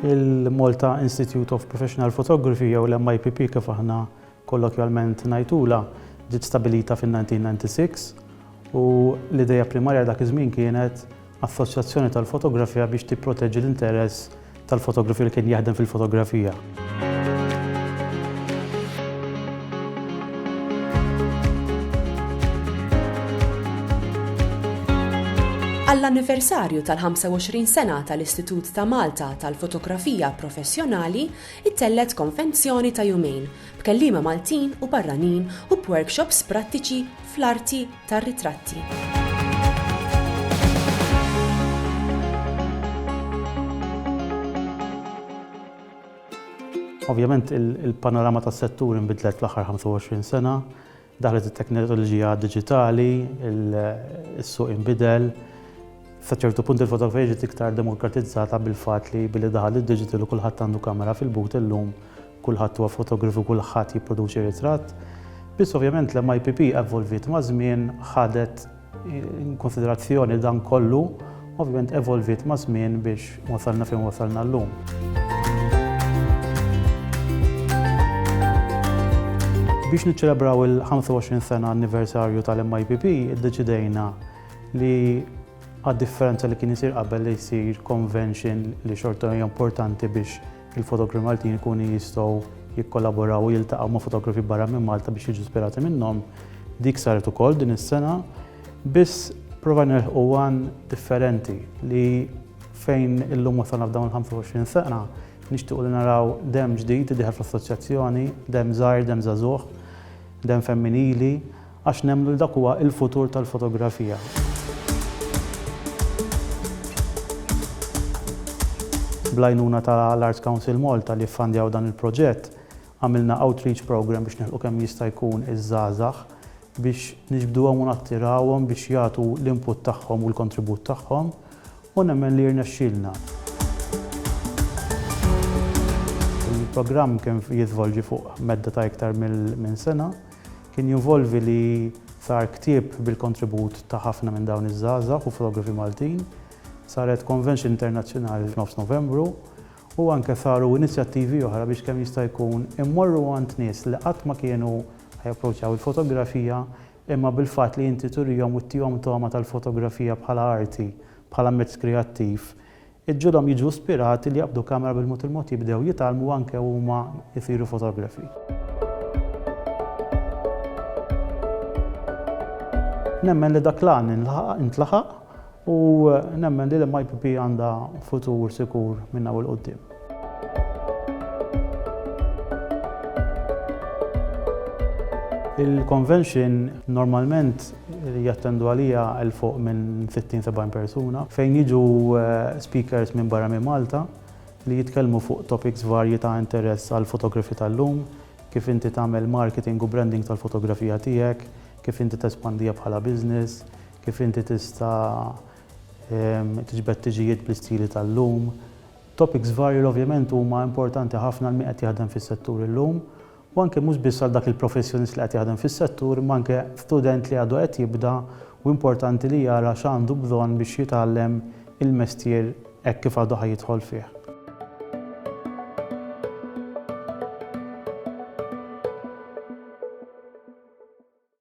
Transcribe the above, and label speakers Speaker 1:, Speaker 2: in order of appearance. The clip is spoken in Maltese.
Speaker 1: il-Malta Institute of Professional Photography jew l-MIPP kif aħna kollokjalment ngħidula ġiet stabilita fin-1996 u l-ideja primarja dak iż-żmien kienet Assoċjazzjoni tal-Fotografija biex tipproteġi l-interess tal-fotografi li kien jaħdem fil-fotografija. Għall-anniversarju tal-25 sena tal-Istitut ta' Malta tal-Fotografija Professjonali, ittellet konvenzjoni ta' jumejn b'kelliema Maltin u barranin u b'workshops prattiċi fl-arti tar-ritratti. Ovvjament il-panorama tas settur inbidlet fl-aħħar 25 sena, Daħlet it-teknoloġija diġitali, is-suq inbidel. Sa ċertu punt il-fotografija ġiet iktar demokratizzata bil-fatt li billi daħal id-digital u kulħadd għandu kamera fil-but illum kulħadd huwa fotografu u kulħadd jipproduċi ritratt. Biss ovvjament l-MIPP evolviet maż-żmien, ħadet In konsiderazzjoni dan kollu, ovvjament evolviet ma' żmien biex wasalna fejn wasalna llum. Biex niċċelebraw il-25 sena anniversarju tal-MIPP, iddeċidejna li għad differenza li kien isir qabel li jsir convention li xorta hija importanti biex Il-fotografi Maltin ikunu jistgħu jikkollaboraw u jiltaqgħu ma' fotografi barra minn Malta biex jiġu ispirati minnhom. Dik saret ukoll din is-sena, biss prova nilħqu għan differenti li fejn illum wasalna f'dawn il-25 sena nixtiequ li naraw dem ġdid idieħel fl-assoċjazzjoni, dem żgħir, dem żagħżugħ, dem femminili, Għax nemmnu li dak huwa l-futur tal-fotografija. Bl-għajnuna ta' l-Arts Council Malta li ffandjaw dan il-proġett, għamilna outreach programme biex nilħqu kemm jista' jkun iż-żgħażagħ biex niġbduhom u nattirawhom biex jagħtu l-input tagħhom u l-kontribut tagħhom u nemmen li rnexxielna. Il-programm kien jiżvolġi fuq medda ta' iktar minn sena. Kien jinvolvi li sar ktieb bil-kontribut ta' ħafna minn dawn iż-żgħażagħ u fotografi Maltin, saret convention internazzjonali f'nofs Novembru u anke saru inizjattivi oħra biex kemm jista' jkun immorru għand nies li qatt ma kienu japproċċaw il-fotografija imma bil-fatt li inti turihom u ttihom togħma tal-fotografija bħala arti, bħala mezz kreattiv, Iġġielhom jiġu spirati li jaqbdu kamera bil-mod il-mod jibdew jitgħallmu anke huma jsiru fotografi. Nemmen li dak l-għan intlaħaq u nemmen li l-MIPP għandha futur sikur minn hawn il-qudiem. Il-convention normalment jattendu għalija il fuq minn 60-70 persuna fejn jiġu eh, speakers minn barra minn Malta li jitkellmu fuq topics varji ta' interess għal fotografi tal-lum, kif inti tagħmel marketing u branding tal-fotografija tiegħek, kif inti tespandija bħala business, kif inti tista' ehm, tiġbed tiġijiet bl-istili tal-lum, Topics varji li ovvjament huma importanti ħafna għal min qed jaħdem fis-settur illum u anke mhux biss għal dak il-professjonist li qed jaħdem fis-settur imma anke student li għadu qed jibda u importanti li jara x'għandu bżonn biex jitgħallem il-mestier hekk kif għadu ħa jidħol fih.